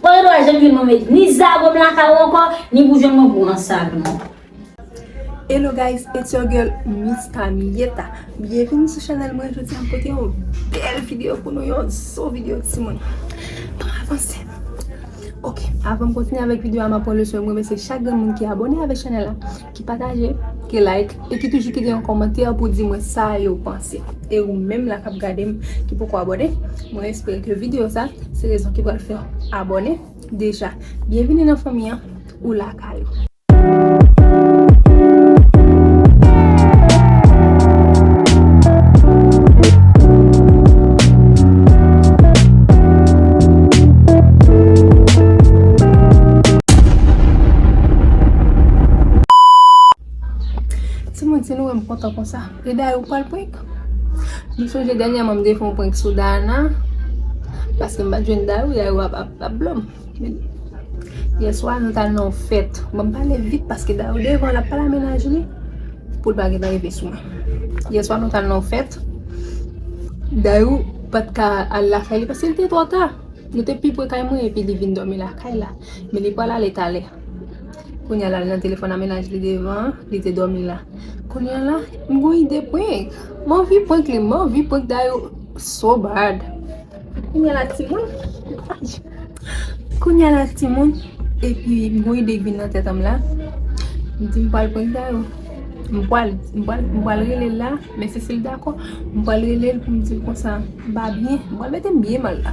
Pran yon dwal jènfil mwen met ni zago m lakay ou ankò, ni boujon mwen pou ansag nou. Hello guys it's your girl Miss Camilleta Byenvini sou chanèl mwen Jodi an pote yon bèl video pou nou Yon zo video ti moun Bon avanse Ok avan m kontinye avèk video a m ap pran le swen m remèsye chak grenn moun ki abone avèk chanèl la. Ki pataje, ki like, e ki toujou kite yon kòmantè pou di mwen sa yo panse. E ou menm la kap gade m, ki poko abòne, mwen espere ke video sa, se rezon ki pral fèw abòne. Deja, byenvini nan fanmi an, ou lakay ou. Timoun si nou wèm kontan konsa e daye ou pral prank m sonje dènyèman m te fè yon prank sou Dayana paske m pat jwenn daye ou daye ou ap blòm yèswa nou tal nan yon fèt bon m pale vit paske daye ou devan lap pale a mennaj li pou l pa gentan rive sou mwen yèswa nou tal nan yon fèt daye ou pat ka al lakay li paske l te twò ta nou te pi pre kay mwen epi li vin dòmi lakay la men li pral ale talè Kounya lal nan telefòn a mennaj li devan an li te dòmi la kounya la m gon ide prank m anvi prank li m anvi prank Dayou so bad kounya la timoun kounya la timoun epi m gon ide k vin nan tèt anm la m di m pral prank Dayou m pral m pral m pral rele l la men si si l dakò m pral rele l pou m di l konsa m pa byen m pral mete m byen mal la.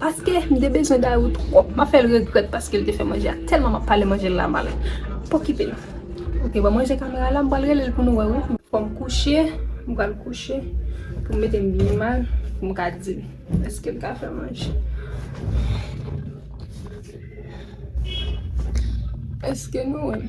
Paske m te bezwen Dayou twòp m ap fè l regrèt paske l te fè manje a tèlman m ap pale manje l la mal p okipe l ok bon manje kamera la m pral rele l pou nou wè wi. Fò m kouche m pral kouche pou m mete m byen mal pou m ka di l èske l ka fè manje èske nou wè m.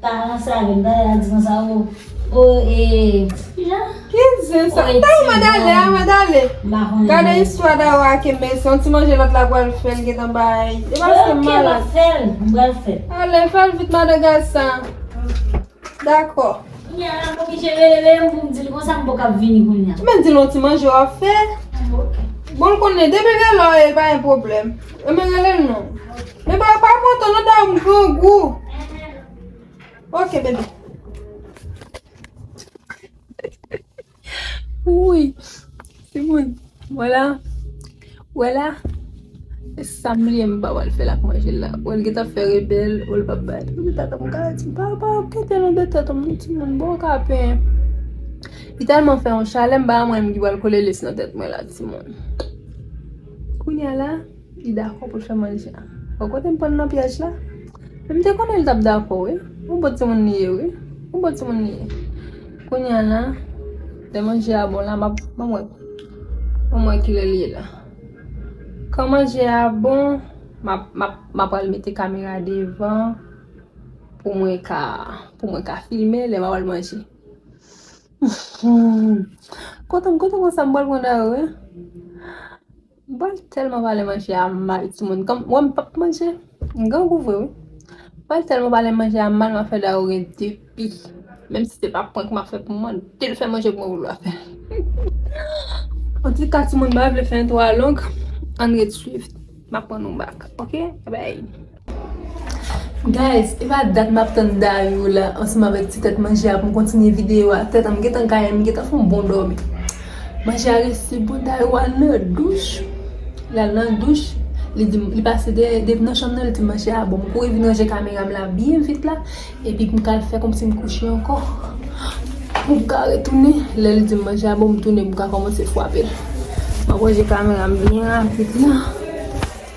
Pa ranse avèm gade ak zen sa oo ooh eeh. Ki zen sa Tayy mwen dale a mwen dale Gade istwa Dawa ak Emel se yon ti manje lòt la pral fè l gentan bay E paske m malad Ale fè l vit madan gaz sa Dakò Kounya la m oblije rele Leyè pou m di l konsa m poko ap vini kounya Men di l yon ti manje w ap fè Bon l konnen depi rele w e pa gen pwoblèm Emel rele l non. Men ba yo pa enpòtan non Dayou m grangou Ok baby Wouyy Timoun Wè la Wè la E sa m bliye m pa wè l fè l ak manje l la Wè l gen tan fè rebèl Wè l pa bay l Wouyy tata m ka di Pa pa kite l andedan tete m non timoun Bon w ka pen Li tèlman fè yon chalè m pa wè m ki pral kole lès nan tèt mwen la timoun Kounya la Li dakò pou l fè manje a. Bon kote m pran l nan pyèj la. Men m te konnen li t ap dakò wi. Yon bon timoun li ye wi. Yon bon timoun li ye. Kounye a la, lè manje a bon la, m ap, ban m wè. Ban m wè ki lè li ye la. Kan manje a bon, m ap, m ap, m ap pral mete kamera devan pou mwen ka, pou mwen ka filme lè m ap pral manje. Kote m, kote m konsa m pral pran Dayou e? Bal telman pale manje a mal timoun kom wem pap manje m grangou vre wi bal telman pale manje a mal map fe daro gen 2 pi menm si se pa prank map fe poum mandel fe manje pou mwen poul pa fel antuka timoun m pa vle fe entwo a long ann ret swiv map pran nou bak ok bby. Guys epa dat map tann dayou la ansanm avèk ti tèt manje a poum kontinye video a tèt an m gentan gaye m gentan fon bon dòmi manje a resi bon dayou al nan douch lal nan douch li dim li pase dèyè depi nan chanm nan li dim manje a bon m kouri vin ranje kamera m la byen vit la epi poum ka al fè kòmsi m kouche ankò poum ka retounen lèl dim manje a bon m tounen poum ka kòmanse fwapel map ranje kamera m byen rapid la.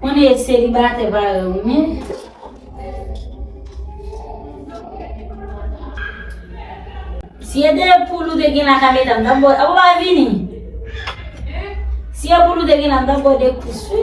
Konnen e selibatè parèy ou men. Si e de poul ou te gen la ka medam nan bò. Apo pa vini. Si e poul ou te gen la nan bò de kous wi.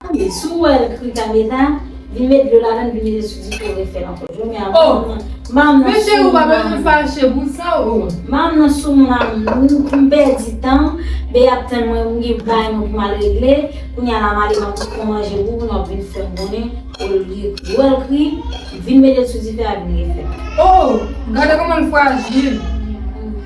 Tande, si w wè l kri kane sa, vin met dlo ladan l vin mete sou dife w refe l ankò. Jounen an manm nan sou moun manm. Manm nan sou moun a moun. M pèdi tan m, Bee ap tann mwen m gen bagay mwen pou m al regle. Kounya la m ale m ap tou pran manje pou ou nou ap vin fè m konnen olye w wè l kri, vin mete l sou dife a vin refe l. O! Gade kòman l frajil.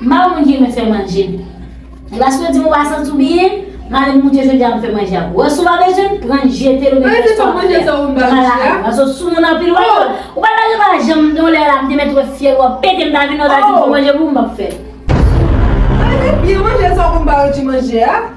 Mal moun ki renmen fè manje. Gras yo dim wa santi w byen, male moun ke jodi a m fè manje a pou wè si w pa bezwen l, pran l jete l oubyen rès pa w fè a, pran l lakay ou. Paske w sou moun anpil wè yo. Ou pa ta gen pa janm gen yon lè la m te mèt wè fyèl wap pete m ta vin la w ta dim fè manje pou m m pap fè. Sou. Male byen manje sa w konn pa rejte manje a.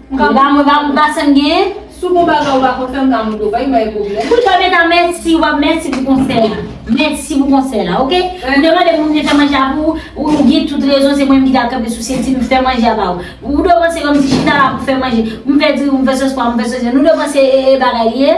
Kanga mwen pa konta sem gen. Sou bon bagay ou pa konn fèm ka moute ou pa vin bay pwoblèm. Wi Carmeta mèsi wap mèsi pou konsèy la mèsi pou konsèy la ok ou demande pou moun fè manje a pou ou ou gen tout rezon se mwen menm ki ta kanpe sou senti m fè manje a ba ou ou dwe panse kòmsi chita la pou fè manje m fè diri m fè sos pwa m fè sos nou dwe panse e e bagay li ye.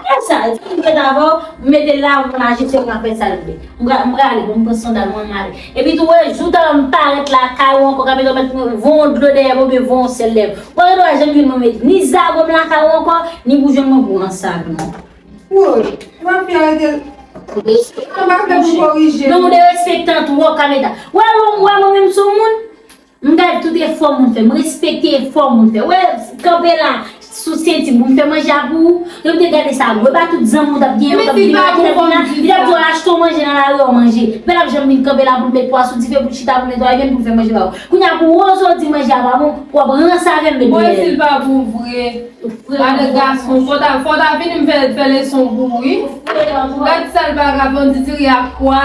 Frèm sa yo ki ret avèw mete la mwen ajifye mwen fè sal vle mwen prale mwen pran sandal mwen male epi tou wè jou talè mwen parèt la kay ou ankò kapito mèt voyon dlo dèyè mwen oubyen voyon sèl dèyè mwen mwen ret wè jan pi mwen met ni zago m lakay ou ankò ni boujòn mwen pou an sal non. Woy epa fi a rete l Mwen pa fè pou korije l. Non ou derespektan twòp kameta. Wè lè w wè mwen menm sou moun. M gad tout efò moun fè, m respekte efò moun fè. Wè, kanpe la, sou senti moun fè manje a pou ou. Lè m te gade sa, wè pa tout zanmi w t ap gen yo k ap vini la, ki t ap vini la, li t ap di w achte w manje nan lari ò manje. Pè l ap janm vin kanpe la pou l met pwa sou dife, pou l chita, pou l netwaye menm, pou l fè manje ba ou. Kounye a pou Rozo di manje a pa bon, pou w ap ranse avè m met dèyè l. Bon e si l pa bon vre? Gade gason, fò w ta fò w ta vini m fè fè leson pou ou wi. Gad sal vagabonditiri ak kwa.